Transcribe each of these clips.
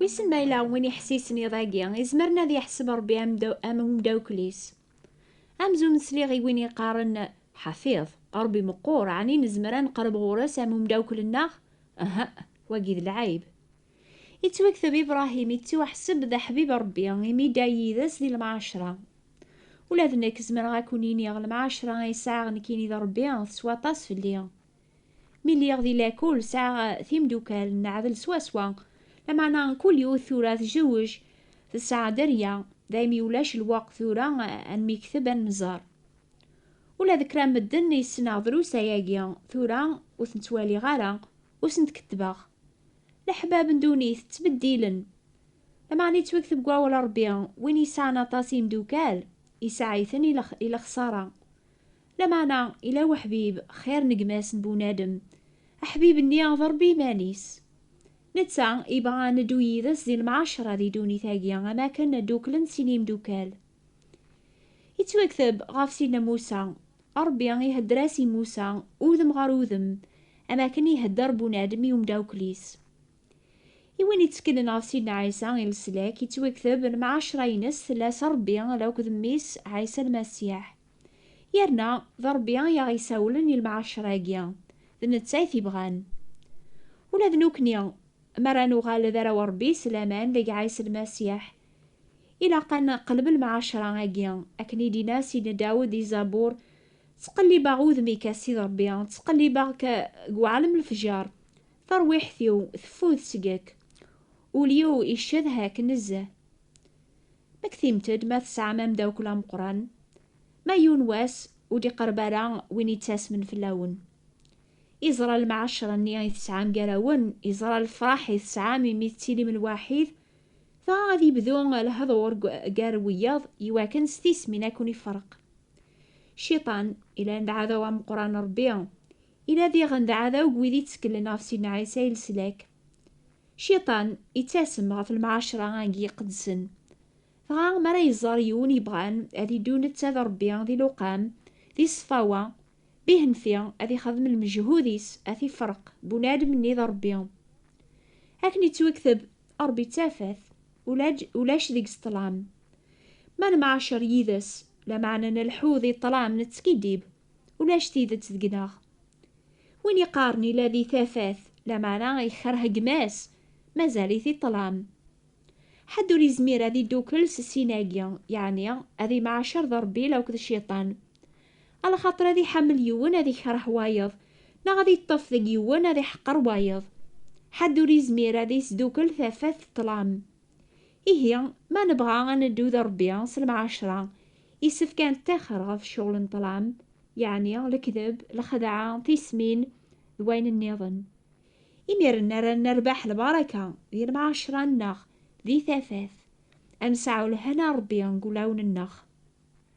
Wissen ma yella win iḥessisen iḍ-agi, izemren ad yeḥseb Rebbi am daw- am umdawkel-is. Amzun sliɣ i win yeqqaren Ḥafiḍ, Rebbi meqqur, ɛni nezmer ad neqreb ɣur-s am umdawkel-nneɣ? Aha'a, wagi d lɛayb. Ittwakteb Ibrahim ittuḥseb d aḥbib n Rebbi imi idda yid-s di lemɛacra. Ula d nekk zemreɣ ad ken-iniɣ lemɛacra ay sɛiɣ nekkini d Rebbi teswa aṭas fell-i. Mi lliɣ di lakul sɛiɣ timeddukal neɛdel swaswa, lameɛna kul yiwet tura tjewwej tesɛa dderya, daymi ulac lweqt tura ad nmekteb ad nemmẓer. Ula d kra n medden ay ssneɣ drus ayagi tura ur ten-ttwaliɣ ara, ur sent-kettbeɣ. Leḥbab n ddunit ttbeddilen. Lameɛna yettwakteb deg wawal n Rebbi, Win yesɛan aṭas n yimdukal, isɛa-iten i lexṣara. Lameɛna yella weḥbib xir n gma-s n bunadem, aḥbib-nni d Rebbi iman-is. Netta yebɣa ad neddu yid-s di lemɛaceṛa di ddunit-agi, am wakken ddukklen sin yimdukal. Ittwakteb ɣef Sidna Musa, Ṛebbi ihedder-as i Musa udem ɣer udem, am akken ihedder bunadem i umdawkel-is. I win itteklen ɣef Sidna Ɛisa i leslak, ittwakteb lemɛacṛa-ines tella s Ṛebbi d akk d Mmi-s Ɛisa Lmasiḥ. Yerna, d Ṛebbi i aɣ-isawlen i lemɛacṛa-agi, d netta i t-ibɣan. Ula d nukni, mi ara nuɣal d arraw n Ṛebbi s laman deg Ɛisa Lmasiḥ, Ilaq ad neqleb lmɛacra agi, akken i d-inna Sidna Dawed di Zabur, Ttqellibeɣ udem-ik a Ssid Rebbi, ttqellibeɣ-k deg uɛlem lefjer, tarwiḥt-iw teffud seg-k, ul-iw iccedha-k nezzeh. Mmektimt-d ma tesɛam amdakkel ameqqran, ma yiwen wass ur d-iqerreb ara win yettasmen fell-awen. Iẓra lmɛacra-nni i tesɛam gar-awen, iẓra lefraḥ i tesɛam imi tettilim lwaḥid Ta ad yebdu lehḍur gar wiyaḍ iwakken s tismin ad ken-iferq. Cciṭan, ilan d aɛdaw ameqqran n Rebbi, ila diɣen d aɛdaw n wid itteklen ɣef Sidna Ɛisa i leslak. Cciṭan, ittasem ɣef lemɛacra agi iqedsen. Dɣa, mi ara iẓer yiwen yebɣan ad iddu netta d Rebbi di luqam, di ṣṣfawa, Bihenfi ad ixdem lmeǧhud-is ad t-ifreq bunadem-nni d Ṛebbi. Akken yettwekteb, Ṛebbi d tafat, ulaǧ ulac deg-s ṭṭlam. Ma nemɛacer yid-s, lameɛna nelḥu di ṭṭlam nettskiddib, ulac tidet deg-neɣ. Win iqqaren ila di tafat, lameɛna ikerh gma-s, mazal-it i ṭṭlam. Ḥedd ur izmir ad iddukel s sin-agi, yeɛni ad imɛacer d Ṛebbi lakk d Cciṭan. Alaxaṭer ad iḥamel yiwen ad ikereh wayeḍ, neɣ ad iṭṭef deg yiwen ad iḥqer wayeḍ. Ḥedd ur izmir ad isdukel tafat d ṭṭlam. Ihi, ma nebɣa ad neddu d Ṛebbi s lemɛacṛa, isefk ad neṭṭixer ɣef ccɣel n ṭṭlam, yeɛni lekdeb, lxedɛa, tismin, d wayen nniḍen. Imiren ara nerbeḥ lbaraka di lemɛacṛa-nneɣ, di tafat, ad nesɛu lehna n Ṛebbi deg wulawen-nneɣ.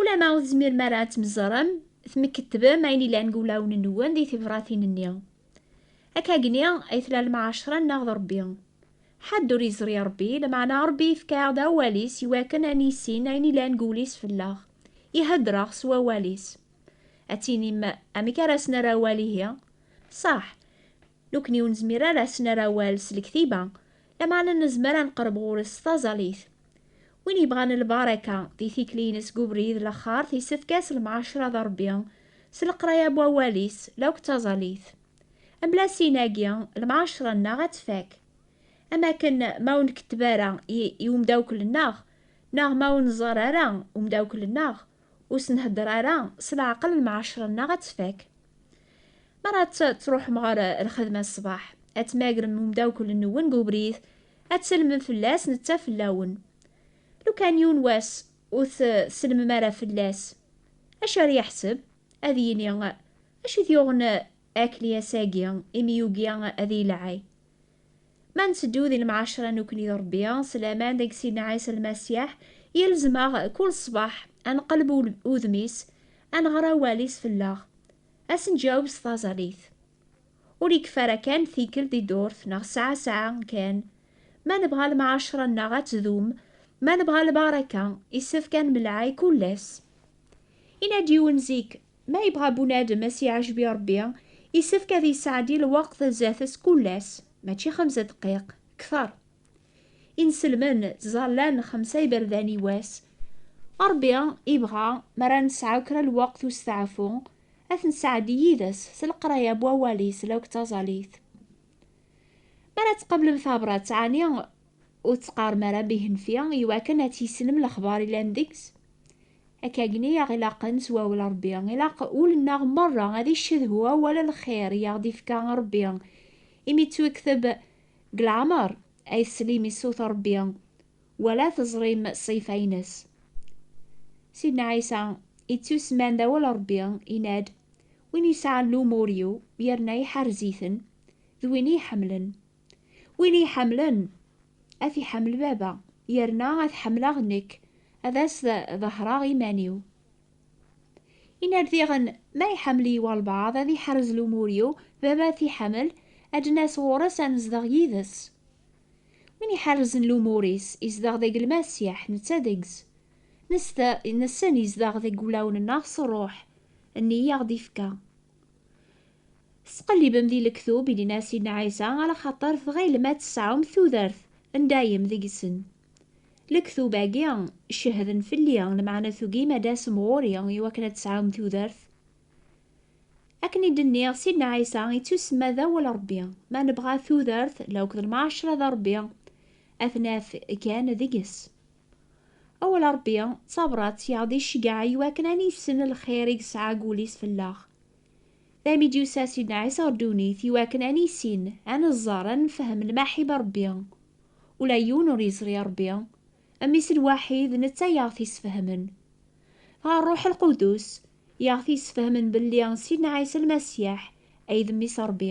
Ulamma ur tezmirem ara ad tmeẓrem, tmkettbem ayen ilan deg wulawen-nwen di tibratin-nni. Akkagni ay tella lemɛaceṛa-nneɣ d Ṛebbi. Ḥedd ur yeẓri Ṛebbi, lameɛna Ṛebbi yefka-aɣ-d awal-is i wakken ad nissin ayen ilan deg wul-is fell-aɣ, i heddṛeɣ s wawal-is. Ad tinim, Amek ara as-nerr awal ihi? Ṣaḥ! Nekkni ur nezmir ara ad s-nerr awal s lektiba, lameɛna nezmer ad neqreb ɣur-s s taẓallit. Win yebɣan lbaraka di tikli-ines deg ubrid n laxart yessefk-as lemɛacra d Rebbi s leqraya n wawal-is la akk d taẓallit. Mebla sin-agi, lemɛacra-nneɣ ad tfak. Am akken ma ur nketteb ara i umdawkel-nneɣ, neɣ ma ur nẓerr ara umdawkel-nneɣ, Ur s-nhedder ara s leɛqel lemɛacer-nneɣ ad tfak. Mi ara d-truḥem ɣer lxedma ṣṣbeḥ, ad tmagrem umdawkel-nwen deg ubrid, ad tsellmem fell-as, netta fell-awen. Lukan yiwen wass ur tsellmem ara fell-as, acu ara yeḥseb? Ad yini, Acu i t-yuɣen akli ass-agi imi yugi ad iyi-lɛay? Ma nteddu di lemɛacra nekkni d Rebbi, s laman deg Sidna Ɛisa Lmasiḥ, yelzem-aɣ kul ṣṣbeḥ ad nqelleb udem-is, ad nɣer awal-is fell-aɣ, ad s-nǧaweb s taẓallit. Ur yekfi ara kan tikkelt di ddurt neɣ ssaɛa ssaɛa kan. Ma nebɣa lemɛacra-nneɣ ad tdum, ma nebɣa lbaraka, yessefk ad nemlaɛi kul ass. Yenna-d yiwen zik, Ma yebɣa bunadem a s-iɛejbi Rebbi, isefk ad yesɛeddi lweqt zdat-s kull ass, mačči xemsa deqqiq, kter. Inselmen ttẓallan xemsa iberdan i wass. Rebbi ibɣa mi ara nesɛu kra n lweqt n usteɛfu, ad t-nesɛeddi yid-s s leqraya n Wawal-is law d taẓallit. Mi ara tqablem tabrat, ɛni Ur tt-qqarem ara Bihenfi i wakken ad tissnem lexbar yellan deg-s. Akkagni i aɣ-ilaqen s wawel Rebbi, ilaq ul-nneɣ merra ad iccedhu awal n lxir i aɣ-d-ifka Rebbi, imi ttwikteb deg leɛmer, Ay teslim i ṣṣut n Rebbi, wa la teẓrim ṣṣifa-ines. Sidna Ɛisa, ittusemman d awal Rebbi, yenna-d, Win yesɛan lumur-iw yerna iḥerrez-iten, d win i iḥemmlen. Win iyi-ḥemmlen, ad t-iḥemmel Baba, yerna ad ḥemmleɣ nekk, ad as-ḍehreɣ iman-iw. Yenna-d diɣen, Ma iḥemmel-iyi walbaɛḍ, ad iḥrez lumur-iw, Baba ad t-iḥemmel, ad d-nas ɣur-s ad nezdeɣ yid-s. Win iḥerrzen lumur-is, izdeɣ deg Lmasiḥ, netta deg-s. Nessen izdeɣ deg wulawen-nneɣ s Ṛṛuḥ nni i aɣ-d-ifka. Tesqellibem di lektub i d-inna Sidna Ɛisa ala xaṭer tɣilem ad tesɛum tudert n dayem deg-sen. Lektub-agi cehden fell-i, lmeɛna tugim ad d-tasem ɣur-i i wakken ad tesɛum tudert? Akken i d-nniɣ, Sidna Ɛisa ittusemma d awal Rebbi. Ma nebɣa tudert, lewqt n lmeɛcra d Rebbi, ad t-naf kan deg-s. Awal n Ṛebbi d tabrat i aɣ-d-iceggɛen i wakken ad nissen lxir i yesɛa deg wul-is fell-aɣ. D ayen i d-yusa Sidna Ɛisa ɣer ddunit i wakken ad nissin, ad neẓẓer, ad nefhem lmaḥib n Ṛebbi. Ula yiwen ur yeẓri Ṛebbi, Mmi-s lwaḥid, d netta i aɣ-t-isfehmen. Dɣa Ṛṛuḥ Lqudus i aɣ-t-isfehmen belli Sidna Ɛisa Lmasiḥ ay d Mmi-s n Ṛebbi.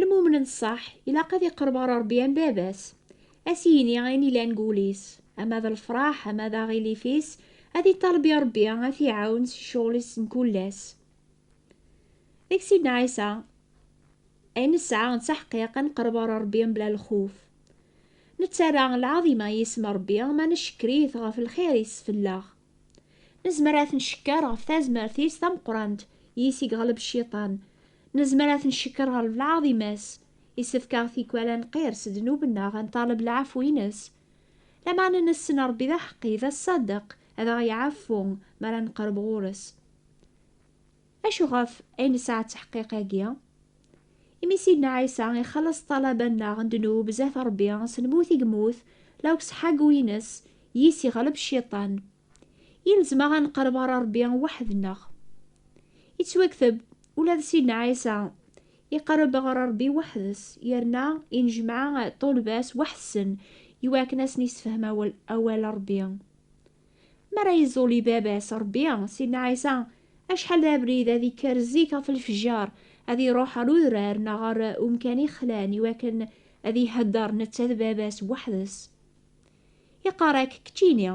Lmumen n ṣṣeḥ ilaq ad iqerreb ɣer Ṛebbi am baba-s, ad s-yini ayen ilan deg wul-is, ama d lefṛaḥ ama d aɣilif-is, ad iṭaleb i Ṛebbi ad t-iɛawen si ccɣel-is n kul ass. Deg Sidna Ɛisa, ayen nesɛa d taḥqiq ad neqreb ɣer Ṛebbi mebla lxuf. Nettarra lɛaḍima i yisem n Ṛebbi ma ncekker-it ɣef lxir i yessfella-ɣ. Nezmer ad ten-cekker ɣef tazmert-is tameqqrant yis i yeɣleb cciṭan. Nezmer ad ten-cekker ɣer lɛaḍima-s. Isefk-aɣ tikwal ad nqirr s ddnub-nneɣ, ad nṭaleb lɛafwi-ines. Lameɛna nessen Ṛebbi d aḥeqqi, d aṣṣadeq, ad aɣ-iɛaffu mi ara neqreb ɣur-s. Acu ɣef ay nesɛa ttaḥqiq agi? Imi Sidna Ɛisa ixelleṣ ṭṭalaba-nneɣ n ddnub zdat Ṛebbi, s lmut i yemmut, la useḥḥagu-ines yis iɣleb Cciṭan. Yelzem-aɣ ad neqreb ɣer Ṛebbi weḥd-nneɣ. Yettwakteb, ula d Sidna Ɛisa iqerreb ɣer Ṛebbi weḥd-s, yerna yennejmaɛ ṭṭulba-s weḥd-sen iwakken ad asen-yessefhem awal n Ṛebbi. Mi ara yeẓẓuli baba-s Ṛebbi, Sidna Ɛisa, acḥal d abrid, ad ikker zik ɣef lefjer, ad iṛuḥ ɣer udrar neɣ ɣer umkan ixlan i wakken ad iheddeṛ netta d baba-s weḥd-s. Iqqar-ak, Keččini,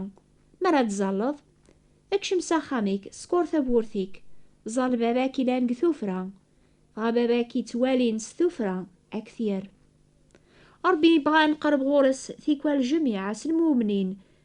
mi ara d-ẓẓalleḍ, kcem s axxam-ik, skeṛ tawwurt-ik, ẓẓall baba-k ilan deg tuffra, dɣa baba-k yettwalin s tuffra, a k-t-yerr. Ṛebbi ibɣa ad neqreb ɣur-s tikwal jemiɛ s lmumnin,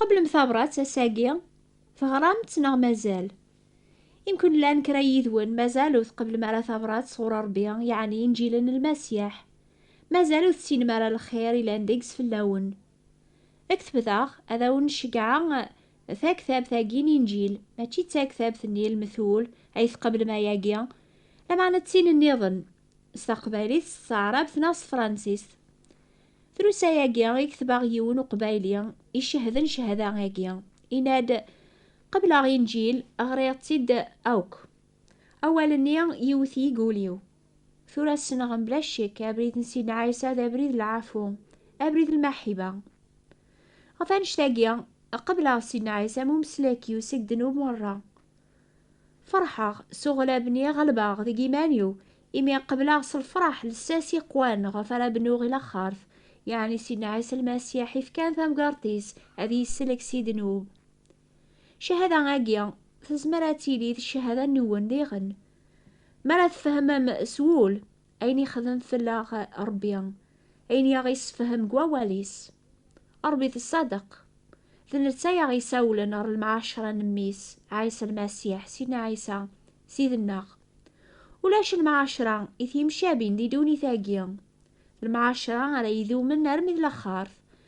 Tqeblem tabrat ass-agi? Teɣram-tt neɣ mazal? Imkun llan kra yid-wen mazal ur tqeblem ara tabrat sɣur Rebbi, yeɛni Inǧil n Lmasiḥ. Mazal ur tessinem ara lxir yellan deg-s fell-awen. Kteb daɣ, ad awen-ceggɛeɣ taktabt-agi n Inǧil, mačči d taktabt n Ilmetul ay tqeblem ayagi, lameɛna d tin niḍen, s taqbaylit, s taɛrabt neɣ s tefransist. Trusa-agi i ketbeɣ yiwen uqbayli icehden cehda-agi, yenna-d, Qebleɣ Inǧil, ɣriɣ-tt-id akk. Awal-nni yewwet-iyi deg wul-iw. Tura ssneɣ mebla ccek abrid n Sidna Ɛisa d abrid n lɛafu, abrid n lmaḥiba. Ɣef annect-agi, qebleɣ Sidna Ɛisa am umeslak-iw seg ddnub merra. Ferḥeɣ s uɣlab-nni ɣelbeɣ deg iman-iw, imi qebleɣ s lfeṛḥ lsas yeqwan ɣef ara bnuɣ i laxert, yeɛni Sidna Ɛisa Lmasiḥ ifkan tamgerṭ-is ad yesselek si ddnub. Cahada-agi tezmer ad tili d cahada-nwen diɣen. Mi ara tfehmem s wul, Ayen ixdem fell-aɣ Ṛebbi, ayen i aɣ-issefhem deg Wawal-is. Ṛebbi d ṣṣadeq. D netta i aɣ-isawlen ɣer lemɛaceṛa n Mmi-s, Ɛisa Lmasiḥ, Sidna Ɛisa, Ssid-nneɣ. Ulac lemɛaceṛa i t-yemcabin di ddunit-agi. Lemɛaceṛa ara idumen armi d laxert,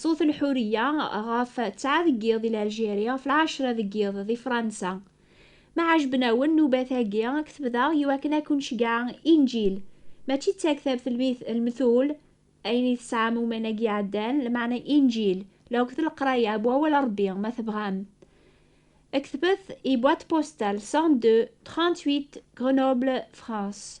Ṣṣut Lḥuriya ɣef ttɛa deg yiḍ di Laljieri, ɣef lɛecra deg yiḍ di Fransa. Ma ɛejben-awen nnubat-agi, ad k-t-bdeɣ i wakken ad ken-ceggɛeɣ Inǧil, mačči d taktabt n lmetul, ayen i tesɛam umanag iɛeddan, lmeɛna Inǧil, la akked leqraya n Wawal n Rebbi, ma tebɣam. Ktbet i Boîte postale 102 38 Grenoble, France.